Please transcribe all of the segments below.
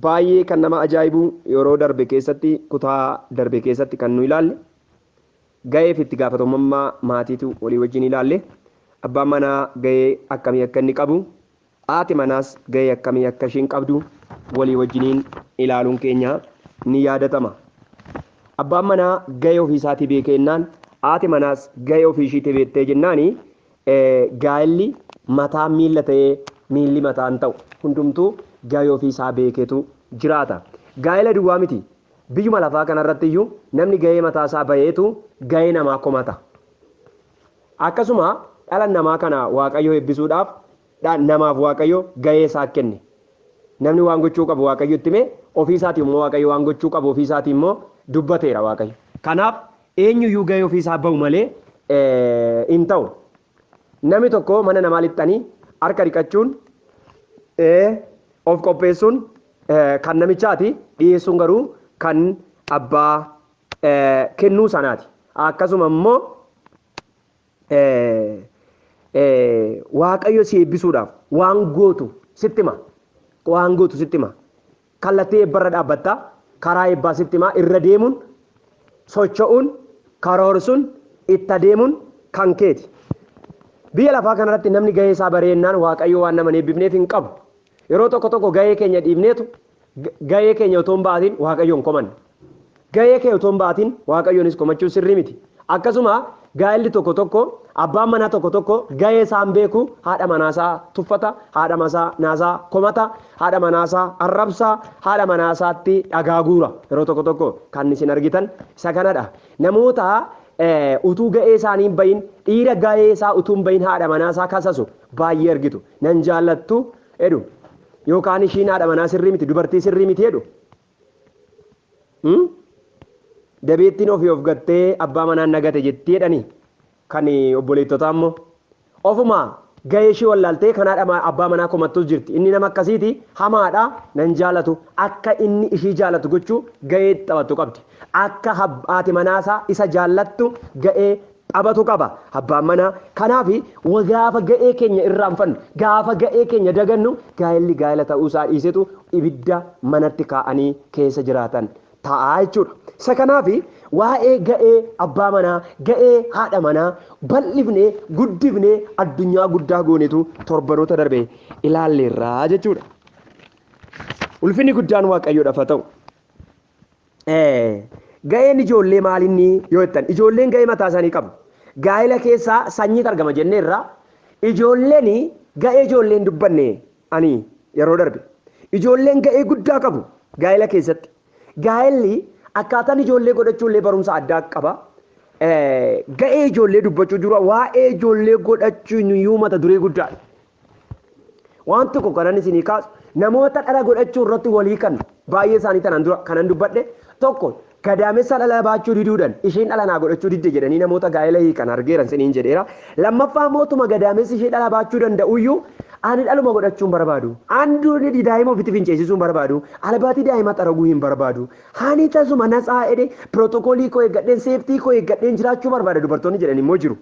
Baay'ee kan nama ajaa'ibu yeroo darbe keessatti kutaa darbe keessatti kan nu ilaalle ga'ee fi itti gaafatamummaa maatiitu walii wajjin ilaalle abbaan manaa ga'ee akkamii akka inni qabu haati manaas ga'ee akkamii akka ishiin qabdu walii wajjiniin ilaaluun keenya ni yaadatama. Abbaan manaa ga'ee ofiisaatii beekee jennaan haati manaas ga'ee ofii ishiitii beektee jennaani Gaa'illi mataan miilla ta'ee miilli mataa hin ta'u. Hundumtuu gahee ofii isaa beekeetu jiraata. Gaa'ila duwwaa miti. Biyyuma lafaa kana irratti iyyuu namni gahee mataa isaa baheetu gahee namaa komata. Akkasuma dhala namaa kana Waaqayyo eebbisuudhaaf dha, namaaf Waaqayyo gahee isaa kenne. Namni waan gochuu qabu Waaqayyo itti hime, ofii isaatii immoo Waaqayyo waan gochuu qabu ofii isaatii immoo dubbateera Waaqayyo. Kanaaf Eenyuyyuu gahee ofii isaa bahu malee hin ta'u. Namni tokko mana namaa lixxanii harka dhiqachuun of qopheessuun kan namichaati dhiyeessuun garuu kan abbaa kennuu sanaati. Akkasuma immoo Waaqayyo si eebbisuudhaaf waan gootu sitti hima. Waan gootu sitti hima. Kallattii eebbarra dhaabbatta. Karaa eebbaa sitti hima. Irra deemuun, socho'uun, karoorsuun, itti adeemuun kan keeti. Biyya lafaa kanarratti namni gahee isaa bareennaan Waaqayyo waan nama hin eebbifneef hin qabu. Yeroo tokko tokko gahee keenya dhiifneetu gahee keenya otoo hin ba'atiin Waaqayyoon komanna. Gahee kee otoo hin ba'atiin Waaqayyoonis komachuun sirrii miti. Akkasuma gaa'elli tokko tokko abbaan manaa tokko tokko gahee isaa hin beeku haadha manaa isaa tuffata, haadha manaa isaa komata, haadha manaa isaa arrabsa, haadha manaa isaatti dhagaa guura. Yeroo tokko tokko kan isin argitan isa kanadha. Namoota utuu gahee isaanii hin bahin dhiira gahee isaa utuu hin bahin haadha manaa isaa kasasu baay'ee argitu. nan jaallattu jedhu yookaan ishiin haadha manaa sirrii miti dubartii sirrii miti jedhu dabeettiin ofii of gattee abbaa manaan nagate jetti jedhani kan obboleettotaa immoo ofuma gahee ishii wallaaltee kan haadha abbaa manaa komattus jirti inni nama akkasiiti hamaadha nan jaalatu akka inni ishii jaalatu gochuu gahee taphattu qabdi akka haati manaasaa isa jaallattu gahee qabatu qaba abbaan manaa. Kanaaf gaafa ga'ee keenya irraanfannu, gaafa ga'ee keenya dagannu gaa'elli gaa'ela ta'uu isaa dhiisetu ibidda manatti kaa'anii keessa jiraatan ta'a jechuudha. Isa kanaaf waa'ee ga'ee abbaa manaa, ga'ee haadha manaa bal'ifnee, guddifnee addunyaa guddaa goonetu torbanoota darbe ilaalleerra jechuudha. Ulfinni guddaan Waaqayyoodhaaf haa ta'u. Ga'een ijoollee maalinni yoo jettan ijoolleen ga'ee mataa isaanii qabu. Gaa'ela keessaa sanyiitu argama jenneerra. Ijoolleen ga'ee ijoolleen dubbanne ani yeroo darbe. Ijoolleen ga'ee guddaa qabu gaa'ela keessatti. Gaa'elli akkaataan ijoollee godhachuu illee barumsa addaa qaba. Ga'ee ijoollee dubbachuu dura waa'ee ijoollee godhachuun iyyuu mata duree guddaadha. Waan tokko kanan isinii kaasu namoota dhala godhachuu irratti walii kan baay'ee isaanii tanaan dura kanan dubbadhe tokko gadaamessa dhala baachuu diduudhan isheen dhala naa godhachuu didde jedhanii namoota gaa'ela hiikan argeeran siniin jedheera. Lammaffaa mootuma gadaamessi ishee dhala baachuu danda'uyyuu ani dhaluma godhachuun barbaadu. Anduun daa'ima ofitti finceessisuun barbaadu. Albaatii daa'ima xaraguu hin barbaadu. Haani tasuma natsaa jedhee pirootokoolii koo eeggadheen seeftii koo eeggadheen jiraachuu barbaada dubartoonni jedhan immoo jiru.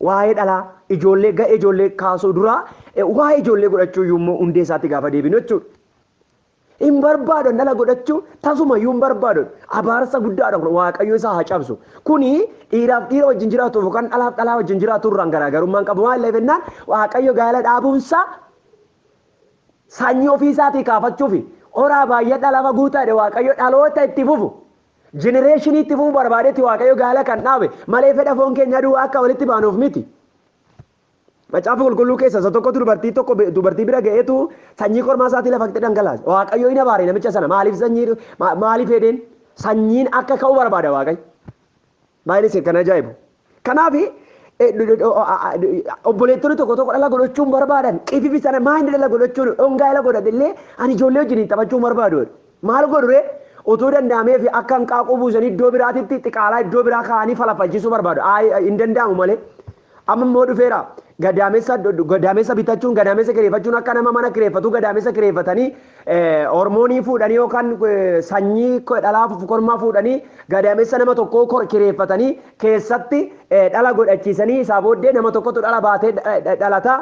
Waa'ee dhalaa, ijoollee, ga'ee ijoollee kaasuu dura waa'ee ijoollee godhachuu iyyuu immoo hundee isaatti gaafa deebinu jechuudha. Hin barbaadan dhala godhachuu tasuma iyyuu hin barbaadan. Abaarsa guddaadha kun waaqayyo isaa haa cabsu. Kuni dhiiraaf dhiira wajjin jiraatuuf yookaan dhalaaf dhalaa wajjin jiraatu irraan garaagarummaa hin qabu. Maal jennaan waaqayyo gaa'ela dhaabuunsaa sanyii ofii isaatii kaafachuufi horaa baay'adhaa lafa guutaa jedhe waaqayyo dhaloota itti fufu Jenereeshinii itti fufuu barbaadetti Waaqayyo gaala kan dhaabe, malee fedha foon keenyaa duwwaa akka walitti baanuuf miti. Macaafa Qulqulluu keessa isa tokkotu dubartii tokko bi- dubartii bira ga'eetu sanyii kormaa isaatii lafatti dhangalaase. Waaqayyo hin abaare namicha sana maaliif sanyii ma- maaliif heedeen sanyiin akka ka'u barbaada Waaqayyo. Baay'een isin kan ajaa'ibu. Kanaaf obboleettonni tokko tokko dhala godhachuun barbaadan qififi sana maayindi dhala godhachuun dhongaa dhala godhate illee ani ijoollee wajjin hin taphachuu barbaadu. Maal godhure otoo danda'amee fi akka hanqaaquu buusanii iddoo biraatitti xiqaalaa iddoo biraa kaa'anii falafalchisuu barbaadu. Hin danda'amu malee Amma immoo dhufeera. Gadaamessa gadaamessa bitachuun gadaamessa kireeffachuun akka nama mana kireeffatuu gadaamessa kireeffatanii hormoonii fuudhanii yookaan sanyii dhalaa kormaa fuudhanii gadaamessa nama tokkoo kireeffatanii keessatti dhala godhachiisanii isaa booddee nama tokkotu dhala baatee dhalata.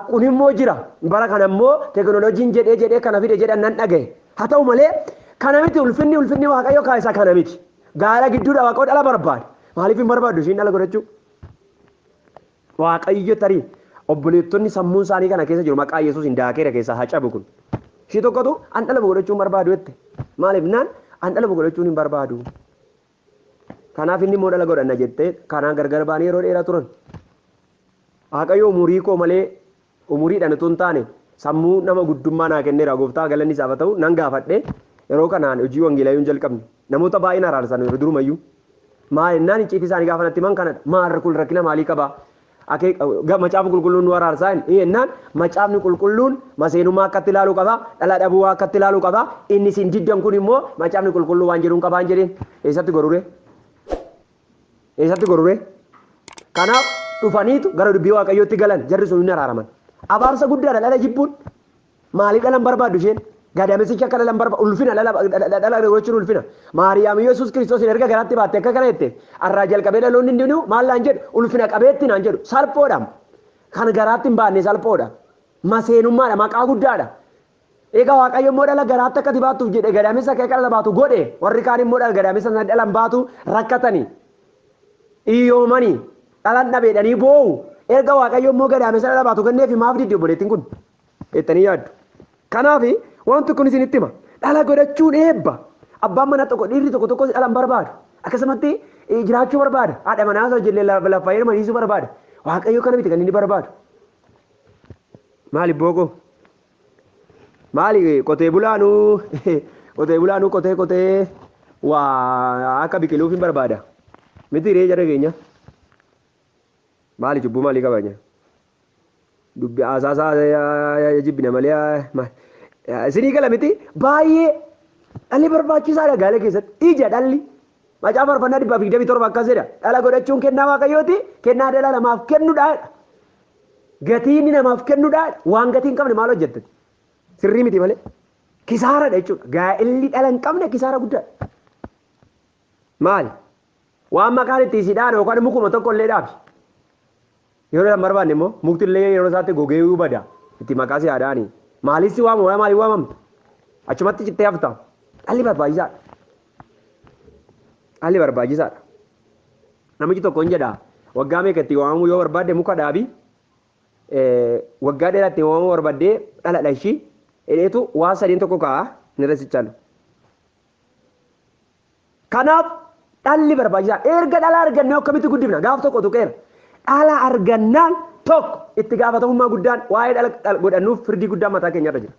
Kun immoo jira. Bara kana immoo teekinooloojiin jedhee jedhee kana fide jedhan nan dhagahe. Haa ta'u malee kana miti ulfinni ulfinni waaqayyo kaa'isaa kana miti. Gaara gidduudha waaqoo dhala barbaade. Maaliif hin barbaaddu ishiin dhala godhachuu? Waaqayyo tarii obboleettonni sammuun isaanii kana keessa jiru maqaa Yesuusiin daakeera keessaa haa cabu kun. Ishii tokkotu an dhala godhachuu hin barbaadu jette. Maaliif naan an dhala godhachuun hin barbaadu. Kanaaf inni immoo dhala godhanna jettee kanaan gargar ba'anii yeroo dheeraa turan. Waaqayyo umurii koo malee Umuriidhaan utuu hin taane sammuu nama guddummaa naa kenneera gooftaa galanni isaaf haa ta'u nan gaafadhe yeroo kanaan hojii wangeelaa yoon jalqabne namoota baay'een araarsameera durumayyuu maal innaan icciitii isaanii gaafa natti himan kanadha maal kun rakkina maalii qabaa Akee- ga- macaafa qulqulluun nu araarsaa hin- ee, innaan macaafni qulqulluun maseenummaa akkatti ilaaluu qaba dhala dhabuu akkatti ilaaluu qaba inni isin diddan kun immoo macaafni qulqulluu waan jedhuun qabaan jedheen eessatti gorure Eessatti gororee? Kanaaf dhufaniitu gara dubbii waaqayyootti galan jarri sun hin araaraman. Abaarsa guddaadha dhala jibbuun. Maaliif dhalan barbaaddu isheen? Gadamesichi akka dhalan barba ulfina dhala dhala gochuun ulfina. Maariyaam Yesuus Kiristoos erga garaatti baatte akka kana jette arraa jalqabee dhaloonni hundinuu maal naan jedhu ulfina qabeetti naan jedhu salphoodha. Kan garaatti hin baanne salphoodha. Maseenummaadha maqaa guddaadha. Egaa Waaqayyo immoo dhala garaatti akka ati baattuuf jedhe gadaamessa kee akka dhala baatu godhe, warri kaan immoo dhala gadaamessa sana dhala hin baatu, rakkatani, iyyoomani, dhalan dhabe jedhanii boo'u. Erga Waaqayyo immoo gadaamessa dhala baatu kenneefi maaf diddi obboleettiin kun? jettanii yaaddu. Kanaaf wanti kun isinitti hima. Dhala godhachuun eebba. Abbaan manaa tokko dhiirri tokko tokkos dhala hin barbaadu. Akkasumatti eh, jiraachuu barbaada. Haadha manaa isaa ijoollee lafa lafa heeruma dhiisuu barbaada. Waaqayyo kana miti kan inni barbaadu. Maali bookoo? Maali qotee bulaanuu qotee bulaanuu qotee qotee waa akka biqiluuf hin barbaada. Miti ree jara keenya. Maali cubbuu maalii qabanya? Dubbi haasaasaa jibbina malee maal? Isinii gala miti baay'ee dhalli barbaachisaadha gaala keessatti. Ija dhalli. Macaa farfannaa dhibbaaf digdamii torba akkas jedha. Dhala godhachuun kennaa waaqayyooti kennaa dhala namaaf kennudha. Gatii inni namaaf kennudhaa waan gatii hin qabne maal hojjettati? Sirrii miti malee. Kisaaradha jechuudha. Gaa'elli dhala hin qabne kisaara guddaadha. Maali? Waan maqaan itti isii dhaana yookaan mukuma tokko illee dhaabi. Yeroo dhaan barbaanne immoo mukti illee yeroo isaatti gogee iyyuu bada. Itti maqaa si haadhaani. Maaliif si waamu? Waa maaliif waamamta? Achumatti cittee hafta. Dhalli barbaachisaadha. Dhalli barbaachisaadha. Namichi tokko hin jedha, waggaa meeqa itti waamamuu yoo barbaadde muka dhaabi, waggaa dheeraa itti waamamuu barbaddee dhala dhashi, jedheetu waa sadeen tokko kaa'a inni irra sichaalu. Kanaaf dhalli barbaachisaa erga dhala argannee akkamitti guddifna gaaf tokko tuqeera. Dhala argannaan tokko itti gaafatamummaa guddaan waa'ee dhala godhannuuf firdii guddaan mataa keenyarra jira.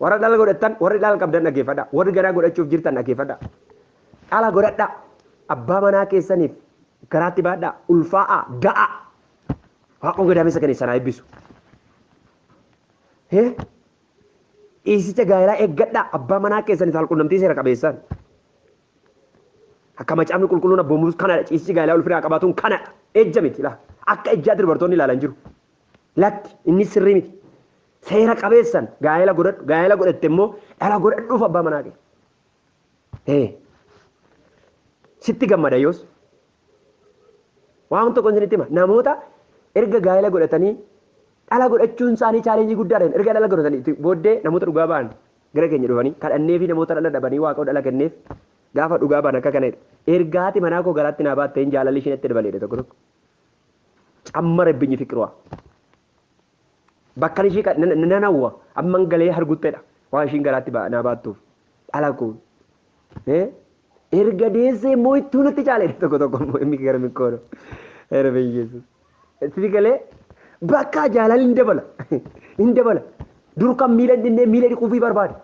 Warra dhala godhattan, warri dhala qabdan dhaggeeffadhaa. Warri garaa godhachuuf jirtan dhaggeeffadhaa. Dhala godhadhaa. Abbaa manaa keessaniif garaatti baadhaa. Ulfaa'aa, da'aa. Waaqoon gadaamessa kan isan haa eebbisu. Hee? Dhiisicha gaa'elaa eeggadhaa. Abbaa manaa keessaniif saalqunnamtii seera qabeessaan. Akka macaafni qulqulluun abboomuus kanadha. Ciisichi gaa'elaa ulfinaa qabaatuun kanadha. Ejja miti laa. Akka ejjaatti dubartoonni ilaalan jiru. Lakki inni sirrii miti. Seera qabeessan gaa'ela godhadhu gaa'ela godhatte immoo dhala godhadhuuf abbaa manaa kee. Ee. Sitti gammada yoos. Waan tokko isinitti hima namoota erga gaa'ela godhatanii dhala godhachuun isaanii chaalenjii guddaadhaan erga dhala godhatanii booddee namoota dhugaa ba'an gara keenya dhufanii kadhannee fi namoota dhala dhabanii waaqoo dhala kenneef gaafa dhugaa ba'an akka kana erga haati manaa koo garaatti naa baattee hin jaalalli ishiin itti dabaleedha tokko tokko. Cammara binyii fiqirwaa. Bakkan ishii kan nan nan hawwa amman galee harguttedha waan ishiin garaatti ba- naa baattuuf dhala koo Eh? erga deessee immoo ittuu natti caaledha tokko tokko immoo inni gara mikkoodha era beyyeessu itti galee bakka jaalalli hin dabala hin dabala dur kan miila hin dhinnee miila dhiquufii barbaada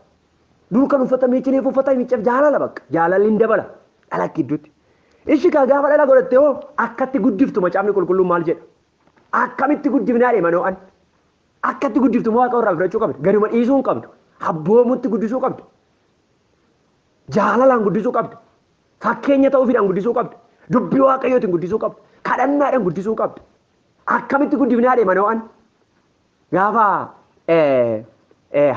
dur kan uffata miiccineef uffata miicceef jaalala bakka jaalalli hin dabala dhala gidduutti ishi kaa gaafa dhala godhatte hoo akkatti guddiftu macaafni qulqulluun maal jedha Akkamitti guddifnaa dheema Noo'an? Akkatti guddiftu immoo Waaqayyo irraa fudhachuu qabda. Gaduma dhiisuu hin qabdu. Abboomutti guddisuu qabda. Jaalalaan guddisuu qabda. Fakkeenya ta'uufiidhaan guddisuu qabda. Dubbii Waaqayyootiin guddisuu qabda. Kadhannaadhaan guddisuu qabda. Akkamitti guddifnaa dheema Noo'an? Gaafa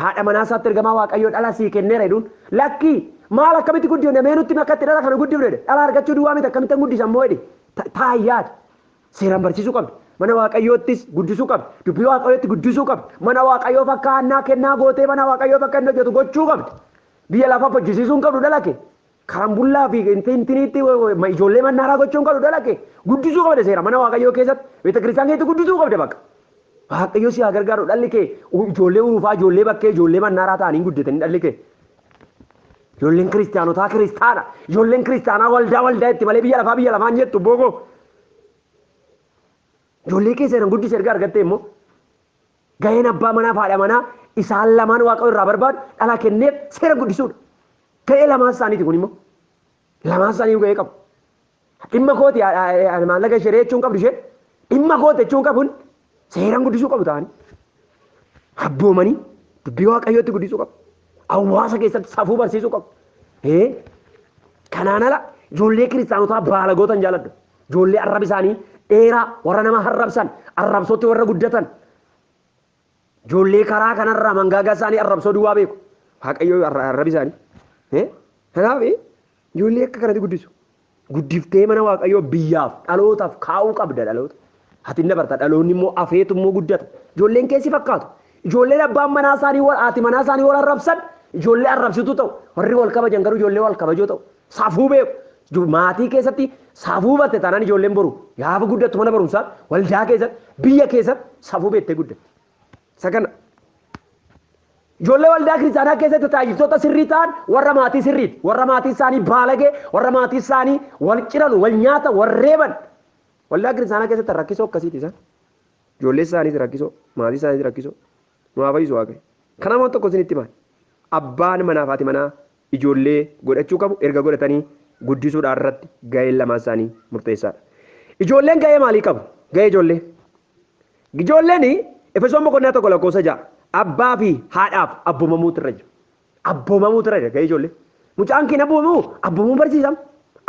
haadha manaa isaatti ergamaa Waaqayyoo dhala sii kenneera jedhuun lakkii maal akkamitti guddifne mee nutti makkatti dhala kana guddifne dhala argachuu duwwaa miti akkamitti hin guddisan moo jedhe taayyaadha. Seeraan barsiisuu qabdi. Mana Waaqayyoottis guddisuu qabdi. Dubbii Waaqayyootti guddisuu qabdi. Mana Waaqayyoo fakkaa hannaa kennaa gootee mana Waaqayyoo bakka inni hojjetu gochuu qabdi. Biyya lafa hojjisiisuu hin qabdu dhala kee. karambullaa fi inti intiniitti ma ijoollee mannaaraa gochuun qabu dalage guddisuu qabda seera mana waaqayyoo keessatti beeta kiristaan keessatti guddisuu qabda bakka. Waaqayyo si haa gargaaru dhalli kee u- ijoollee urufaa ijoollee bakkee ijoollee mannaaraa ta'anii hin guddatanii dhalli kee. Ijoolleen kiristaanotaa kiristaana ijoolleen kiristaanaa waldaa waldaa itti malee biyya lafaa biyya lafaan jettu boogoo. Ijoollee keessa jiran guddisa erga argattee immoo Gaheen abbaa manaa fi haadha manaa isaan lamaan Waaqayyo irraa barbaadu dhala kenneef seera guddisuudha. Gahee lamaan isaaniiti kun immoo. Lamaan isaanii gahee qabu. Dhimma kooti maallaqa ishee jechuun qabdu ishee dhimma kooti jechuun qabun seeraan guddisuu qabu ta'anii. Abboomanii dubbii Waaqayyootti guddisuu qabu. Hawaasa keessatti safuu barsiisuu qabu. Kanaan ala ijoollee kiristaanotaa baalagoota hin jaaladhu. Ijoollee arrabi isaanii dheeraa warra nama arrabsan, arrabsootti warra guddatan, ijoollee karaa kanarraa mangaagaa isaanii arrabsoo duwwaa beeku. Waaqayyoo arra- arrabi isaanii. Eh? Kanaaf eh, ijoollee akka kanatti guddisu. Guddiftee mana Waaqayyoo biyyaaf, dhalootaaf kaa'uu qabda dhaloota. Ati hin dabarta, dhaloonni immoo afeetu immoo guddata. Ijoolleen kee si fakkaatu. Ijoolleen abbaan manaa isaanii wal haati manaa isaanii wal arrabsan ijoollee arrabsituu ta'u. Warri wal kabajan garuu ijoollee wal kabajoo ta'u. Safuu beeku. Iju- Maatii keessatti safuu batte taanaan ijoolleen boru gaafa guddattu mana barumsaa waldaa keessatti biyya keessatti safuu beettee guddatti. Isa kana Ijoollee waldaa kiristaanaa keessatti tajaajiltoota sirrii ta'an warra maatii sirriiti. Warra maatii isaanii baalagee, warra maatii isaanii wal ciranu, wal nyaata, wal reeban. Waldaa kiristaanaa keessatti rakkisoo akkasiiti isaan. Ijoollee isaaniis rakkisoo, maatii isaaniis rakkisoo. Nu haa fayyisu waaqayyo. Kana immoo tokko isinitti himaan. Abbaan manaa fi haati manaa ijoollee godhachuu qabu erga godhatanii guddisuudhaan irratti gaheen lamaan isaanii murteessaadha. Ijoolleen gahee maalii qabu? Gahee ijoollee. Ijoolleen Efesoon boqonnaa tokko lakkoofsa ja'a abbaa fi haadhaaf abboomamuutu irra jira. Abboomamuu ture dhaga'ee ijoollee. Mucaan keen abboomamu abboomamuu barsiisam.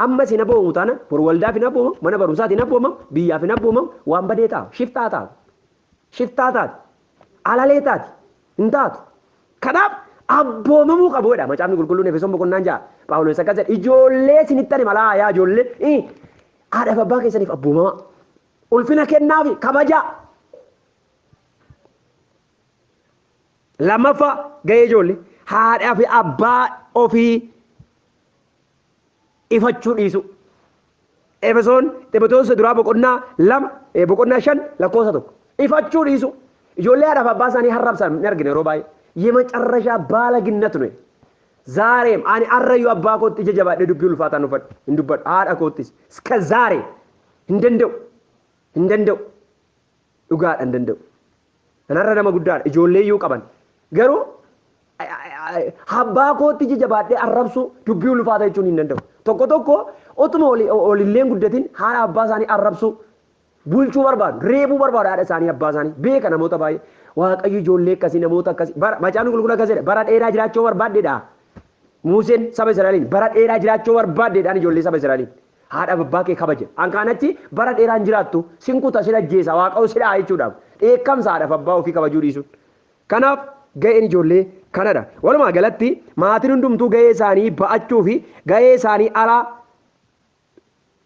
Amma isin abboomamu taana bor waldaaf hin abboomamu, mana barumsaati hin abboomamu, biyyaaf hin abboomamu, waan badee ta'a. Shiftaa ta'a. Shiftaa taati. Alalee taati. Hin taatu. Kanaaf abboomamuu qabu jedha macaafni qulqulluun Efesoon boqonnaan ja'a. Phaawulos akkas jedha ijoollee isinitti ani malaa yaa ijoollee ii, haadhaaf abbaa keessaniif abboomamaa. Ulfina kennaafi kabajaa. Lammaffaa gahee ijoollee haadhaa fi abbaa ofii ifachuu dhiisuu. Efesoon Ximotewos isa duraa boqonnaa lama eh, boqonnaa shan lakkoofsa tokko ifachuu dhiisuu. Ijoollee haadhaa fi abbaa isaanii harrabsan ni argina yeroo baay'ee. Yemecarrashaa baalaginnatu nuyi. Zaareem ani arrayyuu abbaa kootti ija jabaadhee dubbii ulfaataa hin uffadhu hin dubbadhu haadha koottis iska zaare hin danda'u hin danda'u. Dhugaadha hin danda'u. Kanarra nama guddaadha. Ijoollee iyyuu qaban. Garuu abbaa kootti ija jabaadhee arrabsuu dubbii ulfaata jechuun hin danda'u. Tokko tokko otuma olilleen guddatin haadha abbaa isaanii arrabsuu bulchuu barbaadu. Reebuu barbaadu haadha isaanii abbaa isaanii. Beeka namoota baay'ee. Waaqayyo ijoollee akkasii namoota akkasii. Macaafni qulqulluu akkas jedha. Bara dheeraa jiraachuu barbaaddeedha. Muuseen saba Israa'eliin bara dheeraa jiraachuu barbaaddeedhaan ijoollee saba Israa'eliin. Haadhaaf abbaa kee kabaja. An kaan achi bara dheeraa hin jiraattu. Sin kuta, sin ajjeesa, Waaqaoo si dha'a jechuudhaaf. Dheekkamsa haadhaaf abbaa ofii kabajuu dhiisuun. Kanaaf ga'een ijoollee kanadha. Walumaa galatti maatiin hundumtuu ga'ee isaanii ba'achuu fi ga'ee isaanii ala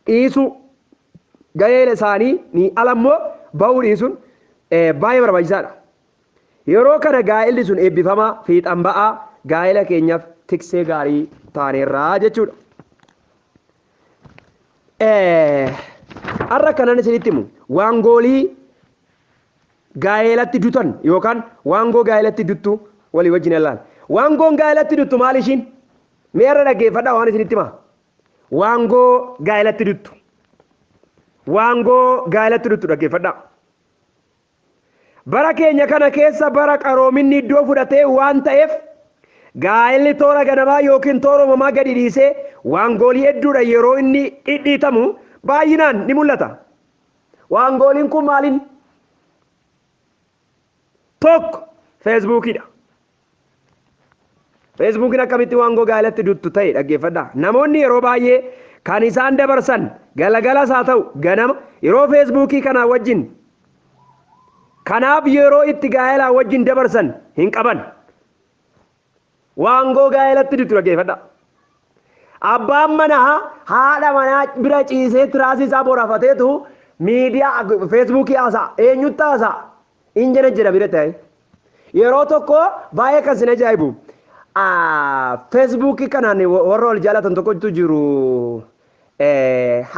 dhiisuu ga'ee isaanii ni ala immoo ba'uu dhiisuun baay'ee barbaachisaadha. Yeroo kana gaa'elli sun eebbifamaa, fiixan ba'aa, gaa'ela keenyaaf tiksee gaarii taaneerra jechuudha. Har'a kanan isinitti himu waangoolii gaa'elatti dutan yookaan waangoo gaa'elatti duttu walii wajjin ilaali. Waangoon gaa'elatti duttu maal ishiin? Mee har'a dhaggeeffadhaa waan isinitti himaa. Waangoo gaa'elatti duttu. Waangoo gaa'elatti duttu dhaggeeffadhaa. Bara keenya kana keessa bara qaroominni iddoo fudhate waan ta'eef gaa'elli toora ganamaa ykn toora uumamaa gadi dhiisee waangoolii hedduudhaan yeroo inni dhidhiitamu baay'inaan ni mul'ata. Waangooliin kun maalinni? Tokko, Feesbuukiidha. Feesbuukiin akkamitti waan gogaa alatti duttu ta'e dhaggeeffadhaa. Namoonni yeroo baay'ee kan isaan dabarsan galagalas haa ta'u ganama yeroo feesbuukii kanaa wajjin kanaaf yeroo itti gaa'elaa wajjin dabarsan hin qaban. Waan gogaa alatti duttu dhaggeeffadhaa. Abbaan manaa haadha manaa bira ciisee tiraasii isaa borafateetu miidiyaa feesbuukii haasa'a. Eenyutti haasa'a? in jira jira bira ta'e yeroo tokko baay'ee kan sin ajaa'ibu feesbuukii kanaan warra wal jaalatan tokkotu jiru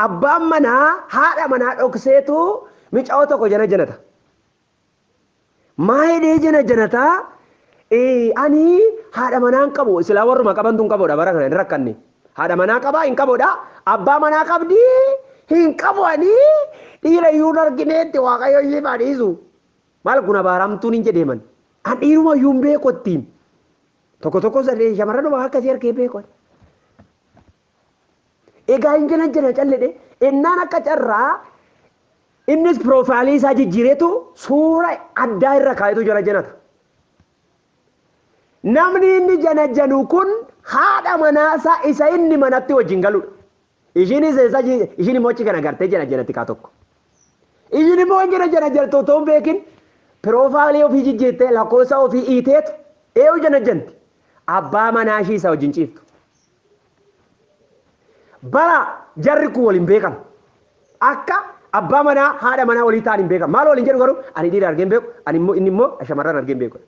abbaan manaa haadha manaa dhokseetu mica'oo tokko jana janata maa hidhee jana janata ani haadha manaan qabu silaa warruma qabantu hin qabudha bara kana hin rakkanne Haadha manaa qabaa hin qabodha abbaa manaa qabdii hin qabu anii dhiira iyyuu hin argineetti waaqayyo ishii baa dhiisu maal kun abaaramtuun hin jedheeman an dhiiruma iyyuu hin beeku ittiin tokko tokko sadee shamarran waa akkasii harkee beeku egaa hin jiran jira calledhe innaan akka carraa innis piroofaayilii isaa jijjiiretu suura addaa irra kaayetu jala jenata Namni inni janajanu kun haadha manaasaa isa inni manatti wajjin galudha. Ishiinis eessa ishiin immoo achi kana gartee janajanatti kaa tokko. Ishiin immoo hin janajanatti otoo hin beekin piroofaalii ofii jijjiirtee lakkoofsa ofii iiteetu eeyu janajanti. Abbaa manaa ishii isa wajjin ciiftu. Bara jarri kun waliin beekan. Akka abbaa manaa haadha manaa walii ta'an hin beekan. Maal waliin jedhu garuu ani dhiira argee hin beeku, ani immoo inni immoo shamarran argee hin beeku.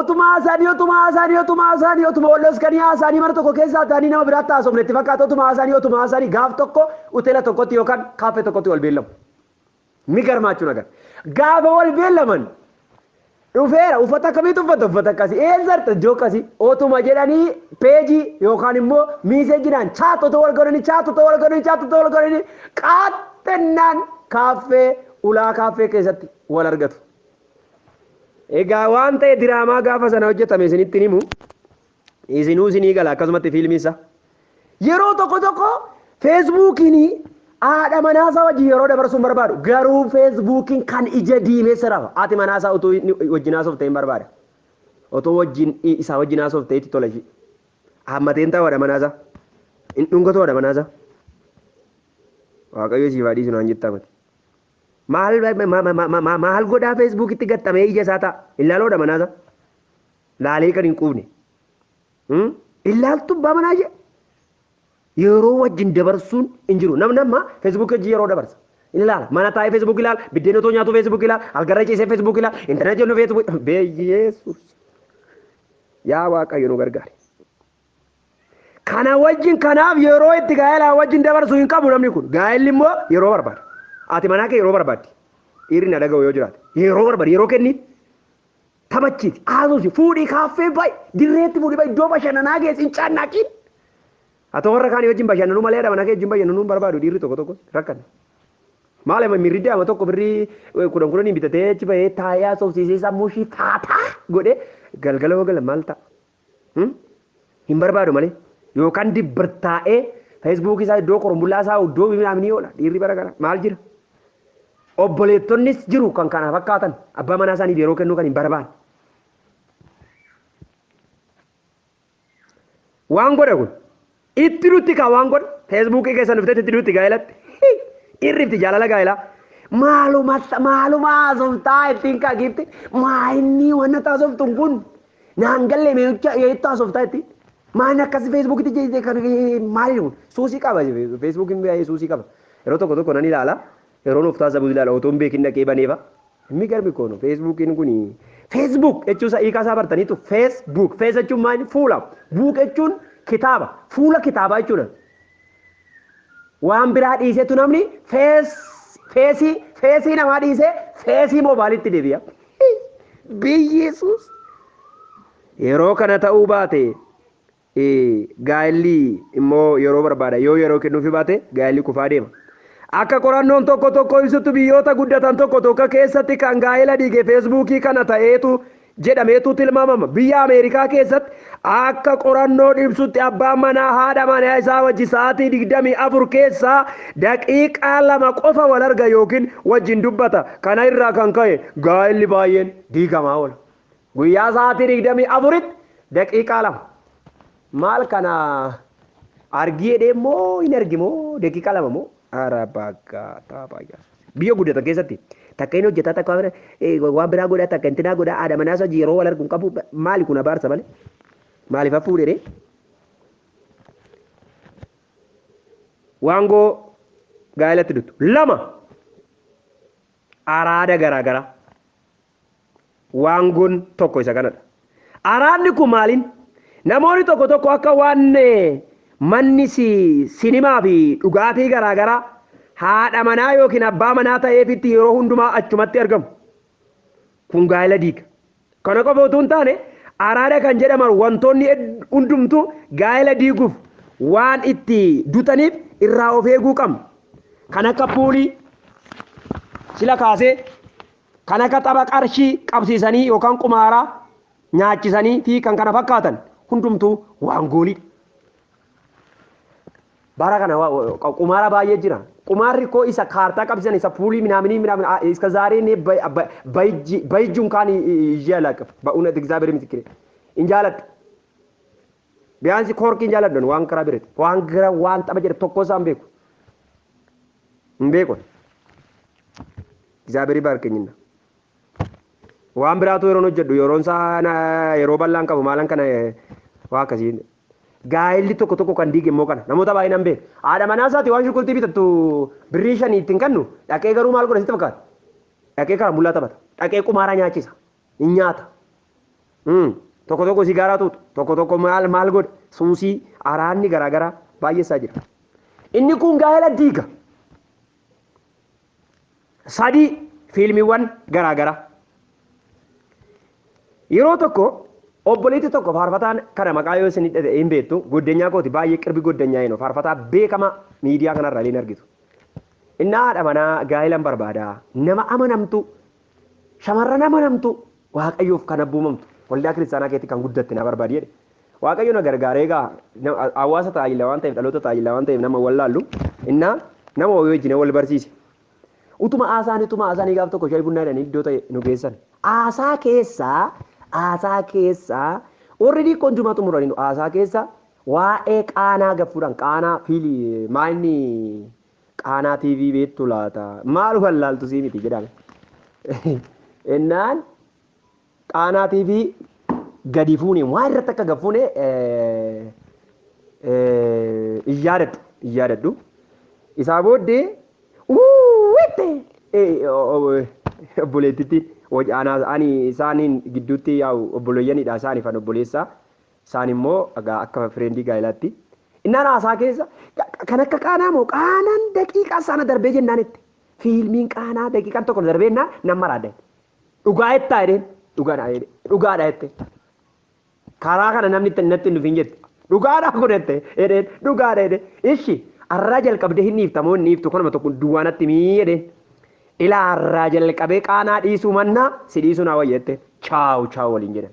Utuma haasaanii utuma haasaanii utuma haasaanii utuma wal dhoskanii haasaanii mana tokko keessaa ta'anii nama biraatti haasofne itti fakkaata utuma haasaanii utuma haasaanii gaaf tokko hoteela tokkotti yookaan kaaffee tokkotti wal beellamu. Ni garmaachuu nagar. Gaafa wal beellaman dhufeera uffata akkamiitu uffata uffata akkasii eessarta iddoo akkasii otuma jedhanii peejii yookaan immoo miiseejinaan chaatota wal godhanii chaatota wal godhanii chaatota wal godhanii qaaxxennaan kaaffee ulaa kaaffee keessatti wal argatu. Egaa waan ta'e diraamaa gaafa sana hojjetame isinitti himu. Isinuu isinii gala akkasumatti fiilmiin isaa. Yeroo tokko tokko feesbuukiin haadha manaasaa wajjin yeroo dabarsuun barbaadu garuu feesbuukiin kan ija diimessa rafa haati manaasaa utuu inni wajjin haasofte hin barbaada. Otoo wajjin isaa wajjin haasofte itti tola ishii. Hammateen ta'u haadha manaasaa. Hin dhungatu haadha manaasaa. Waaqayyo siif haa dhiisu naan jettaa mati. Maal maal godhaa feesbuukitti gaxxamee ija isaa ta'a. Hin laaluu haadha manaasaa. laalee kan hin quufne illaaltuu baamanaa jee yeroo wajjin dabarsuun hin jiru namni amma feesbuukii wajjin yeroo dabarsa hin ilaala mana taa'ee feesbuukii ilaala biddeen otoo nyaatu feesbuukii ilaala algarra ciisee feesbuukii ilaala intarneetii hojii feesbuukii beeyyeessuus yaa waaqayyo nu gargaari. Kana wajjin kanaaf yeroo itti gaa'elaa wajjin dabarsu hin qabu namni kun gaa'elli immoo yeroo barbaada ati manaa kee yeroo barbaaddi dhiirri na dhaga'u yoo jiraate yeroo barbaada yeroo kenniif Taphachiisi, haasofsi, fuudhii kaaffee ba'i, dirreetti fuudhii ba'i, iddoo bashannanaa geessi, hin caannaaqiin. Haa ta'u warra kaanii wajjin bashannanuu malee haadha manaa kee wajjin bashannanuu hin barbaadu dhiirri tokko tokko rakkanne. Maal amma mirri daa'ima tokko birrii eh, kudhan kudhaniin bitatee achi bahee taa'ee haasofsiisee sammuu ishii taataa godhee galgala hoo gala maal ta'a? hin barbaadu malee yookaan dibbar taa'ee feesbuukii isaa iddoo qorumbullaa isaa iddoo binaaf ni oola dhiirri bara gara maal jira. Obboleettonnis jiru kan kana fakkaatan abbaa manaa isaaniif yeroo kennuu kan hin barbaanne. Waan godhe kun Itti dutti kaa waan godhu feesbuukii keessan dhuftee itti dutti gaa'elatti. Irrifti jaalala gaa'elaa. Maaluma maaluma haasoftaa ittiin kaa giifti maayinnii wanna taasoftuun kun naan galle meecha yeettaa haasoftaa ittiin. Maan akkas feesbuukitti jeettee kan maali kun suusii qaba feesbuukiin baay'ee suusii qaba. Yeroo tokko tokko nan ilaala. Yeroo nuuf taasabu ilaala otoo hin beekin dhaqee banee fa. Migarmi koo no feesbuukiin kuni feesbuuk jechuu isaa hiikaa isaa bartaniitu feesbuuk fees jechuun maayini fuula buuk jechuun kitaaba fuula kitaabaa jechuudha. Waan biraa dhiiseetu namni fees feesii feesii namaa dhiisee feesii moobaaliitti deebi'a. Biyyeesuus yeroo kana ta'uu baate gaa'elli immoo yeroo barbaada. Yoo yeroo kennuufi baate gaa'elli kufaa deema. Akka qorannoon tokko tokko ibsutti biyyoota guddatan tokko tokko keessatti kan gaa'ela diige feesbuukii kana ta'eetu jedhameetu tilmaamama. Biyya Ameerikaa keessatti akka qorannoon ibsutti abbaan manaa haadha manaa isaa wajji sa'aatii 24 keessaa daqiiqaa lama qofa wal arga yookiin wajjin dubbata. Kana irraa kan ka'e gaa'elli baay'een diigamaa oola. Guyyaa sa'aatii 24tti daqiiqaa lama. Maal kana argii jedhee immoo hin argi moo daqiiqaa lama moo? Ara bagaa taaphaa yaa. Biyya guddatan keessatti takka inni hojjetaa takka waan biraa godhaa takka intinaa godhaa haadha manaa isaa yeroo wal argu hin qabu maali kun abaarsa malee maaliif hafuu dheeree? Waangoo gaa'elatti duttu lama araada garaa garaa. Waangoon tokko isa kanadha. Araadni kun maaliin? Namoonni tokko tokko akka waan manni sinimaa fi dhugaatii garaa garaa haadha manaa yookiin abbaa manaa ta'eefitti yeroo hundumaa achumatti argamu. Kun gaa'ela diiga. Kana qofa utuu hin taane araada kan jedhaman wantoonni hundumtuu gaa'ela diiguuf waan itti dutaniif irraa of eeguu qabna. Kan akka puulii sila kaasee Kan akka tapha qarshii qabsiisanii yookaan qumaaraa nyaachisanii fi kan kana fakkaatan hundumtuu waan goolidha. Bara kana wa- wa- qa- qumaara baay'ee jira. Qumaarri koo isa kaartaa qabsiisan isa puulii minaaminii minaamin a- iska zaaree nee bay- ba- bayji bayjuun kaan iyyee alaaqaf ba'uun ati egzaabeer misikire. In jaaladhu. Biyaansi koorkii hin jaaladhu waan karaa birati. Waan gara waan tapha jedhe tokko isaan beeku. Hin beeku. Egzaaberii baarkenyinna. Waan biraatu yeroon hojjedhu yeroon isaa na- yeroo bal'aan qabu maalan kana eh, waa akkasii. Gaa'elli tokko tokko kan diige immoo kana namoota baay'inaan beeku. Haadha manaa isaati waan shunkurtii bitattu birrii shanii ittiin kennu dhaqee garuu maal godha sitti fakkaata? Dhaqee karaa bullaa taphata. Dhaqee qumaaraa nyaachisa. Hin nyaata. Mm. Tokko tokko sigaaraa tuutu. Tokko tokko maal maal godhe suusii araanni garaagaraa baay'eessaa jira. Inni kun gaa'ela diiga. sadii fiilmiiwwan garaa garaa. Yeroo tokko obboleetti tokko faarfataan kana maqaa yoo isin hidhate hin beektu goddanyaa kooti baay'ee qirbi goddanyaa hin faarfataa beekamaa miidiyaa kanarra illee hin argitu. Innaa haadha manaa gaa'ilan barbaada nama amanamtu Shamarran amanamtuu Waaqayyoof kan abboomamtu waldaa kiristaanaa keetti kan guddatte na barbaadi jedhe. Waaqayyo na gargaaree egaa hawaasa tajaajila waan ta'eef dhaloota tajaajila waan ta'eef nama wallaallu innaa nama wayii wajjin wal barsiise. Utuma haasaan utuma haasaan gaaf tokko shaayii bunnaa jedhanii iddoo ta'e nu geessan. Haasaa keessaa haasaa keessaa warri diikkoon jumaa xumuraniiru haasaa keessaa waa'ee qaanaa gaffuudhaan qaanaa fiili maayinni Qaanaa TV beektu laata? Maal ufan laaltu sii miti jedhame. Ennaan qaanaa TV gadi fuune waa irratti akka gad fuune hin yaadadhu hin yaadadhu. Isaa booddee uuwitte obboleettitti ani isaaniin gidduutti yaa'u obboleeyyanidha isaaniif an obboleessaa. Isaan immoo egaa akka fireendii gaa'ilaatti innaan haasaa keessa kan akka qaanaa moo qaanaan daqiiqaa sana darbee jennaan itti fiilmiin qaanaa daqiiqaan tokko na darbee jennaan nan maraadda itti. Dhugaa jettaa jedheen dhugaadha jedhe dhugaadha jette karaa kana namni itti natti hin dhufin jette dhugaadha kun jette jedheen dhugaadha jedhe ishi arraa jalqabdee hin dhiifta moo hin dhiiftu kanuma tokko duwwaa natti mii jedheen ilaa arraa jalqabee qaanaa dhiisuu mannaa si dhiisuu naa wayya jette chaawu chaawu waliin jedhan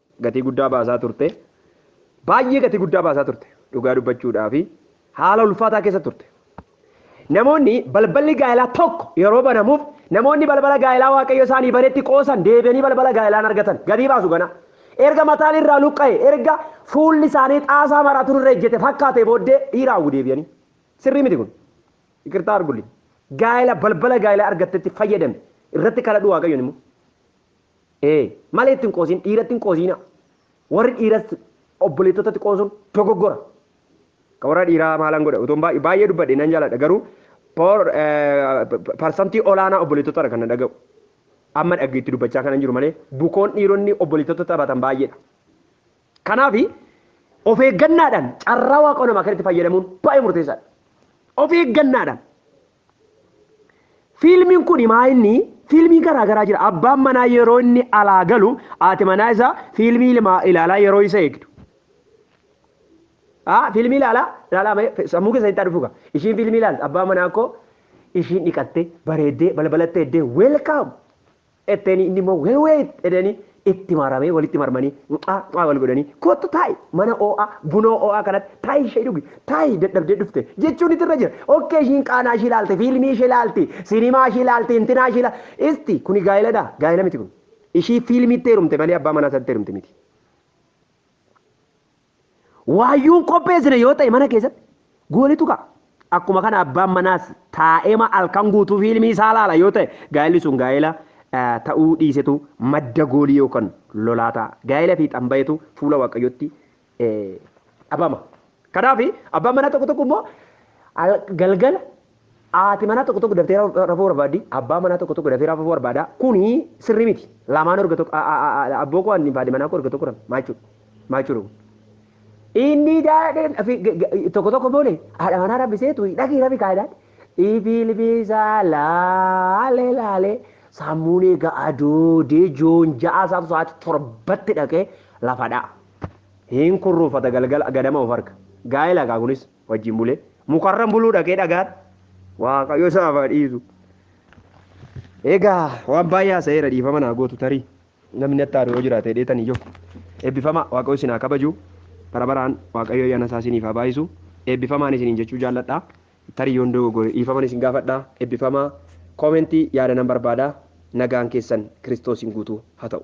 gatii guddaa baasaa turte. Baay'ee gatii guddaa baasaa turte. Dhugaa dubbachuudhaaf haala ulfaataa keessa turte. Namoonni balballi gaa'elaa tokko yeroo banamuuf namoonni balbala gaa'elaa Waaqayyo isaanii banetti qoosan deebi'anii balbala gaa'elaa hin argatan. Gatii baasu ganaa. Erga mataan irraa luqqa'e, erga fuulli isaanii xaasaa maraatuun irra ejjete fakkaatee booddee dhiira hawwu deebi'anii. Sirrii miti kun. Iqirtaa argulli. Gaa'ela balbala gaa'elaa argattetti fayyadami. Irratti kadhadhu Waaqayyoon immoo. Ee, malee itti hin qoosin, dhiiratti hin qoosiina. Warri dhiiras obboleettotatti qoosuun dogoggora. Ka warra dhiiraa maalan godha? Utuun baay'ee baay'ee dubbadhe nan jaaladha garuu por- eh, p- parsantii olaanaa obboleettotadha kan na dhaga'u. Amma dhagge itti dubbachaa kanan jiru malee bukoon dhiironni obboleettota taphatan baay'eedha. Kanaaf of eeggannaadhaan carraa waaqoo namaa kanatti fayyadamuun baay'ee murteessaadha. Of eeggannaadhaan Fiilmiin kun himaa inni fiilmii garaa garaa jira. Abbaan manaa yeroo inni alaa galu haati manaa isaa fiilmii ilmaa ilaalaa yeroo isa eegdu. Haa fiilmii ilaalaa ilaalaa mee fe- sammuu keessa itti dhufuga. Ishiin fiilmii ilaalti abbaa manaa koo ishiin dhiqattee bareeddee balbalattee eddee welcome Etteenii inni immoo well wait jedheenii itti maramee walitti marmanii mucaa mucaa wal godhanii kottu taa'i mana oo'aa bunoo oo'aa kanatti taa'i ishee dhugi taa'i dadhabdee dhufte jechuun itti irra jira okkee ishiin qaanaa ishii ilaalti fiilmii ishee ilaalti sinimaa ishii ilaalti intinaa ishii ilaalti isti kuni gaa'iladha gaa'ila miti kun ishii fiilmiitti heerumte malee abbaa manaa isaatti heerumte miti. Waayyuun qopheessine yoo ta'e mana keessatti goolitu ka'a. Akkuma kana abbaan manaas taa'eema halkan guutuu fiilmii isaa laala yoo ta'e gaa'elli sun gaa'ela ta'uu dhiisetu madda goolii yookaan lolaa ta'a. Gaa'ela fiixaan bahetu fuula Waaqayyootti dhabama. Kanaaf abbaan manaa tokko tokko immoo galgala Haati manaa tokko tokko daftee rafuu barbaaddi, abbaan manaa tokko tokko dafee rafuu barbaada. Kuni sirrii miti. Lamaan erga tokko abboo koo anniif haati manaa koo erga tokko rafne maal jechuudha? Maal jechuudha kun? Inni daadhee tokko tokko boole haadha manaa rabbiseetu dhaqii rafi kaayidaan. Ibilbisaa laalee laalee sammuun eega adoodee joon ja'a isaatu sa'aatii torbatti dhaqee lafa dha'a. Hin kurruufata galgala ganama of arga. Gaa'ela kaa kunis. wajjin bulee mukarran buluu dhaqee dhagaan waaqayyo isaaf haa dhiisu. Egaa waan baay'ee haasa'eera dhiifama naa gootu tarii namni natti aanu yoo jiraate dheetan iyyuu eebbifama waaqayyo isin haa kabaju bara baraan waaqayyo ayyaana isaa isiniif haa baay'isu eebbifamaan isiniin jechuu jaalladha tarii yoon dogoggore dhiifaman isin gaafadha eebbifamaa koomentii yaada nan barbaada nagaan keessan kiristoosiin guutuu haa ta'u.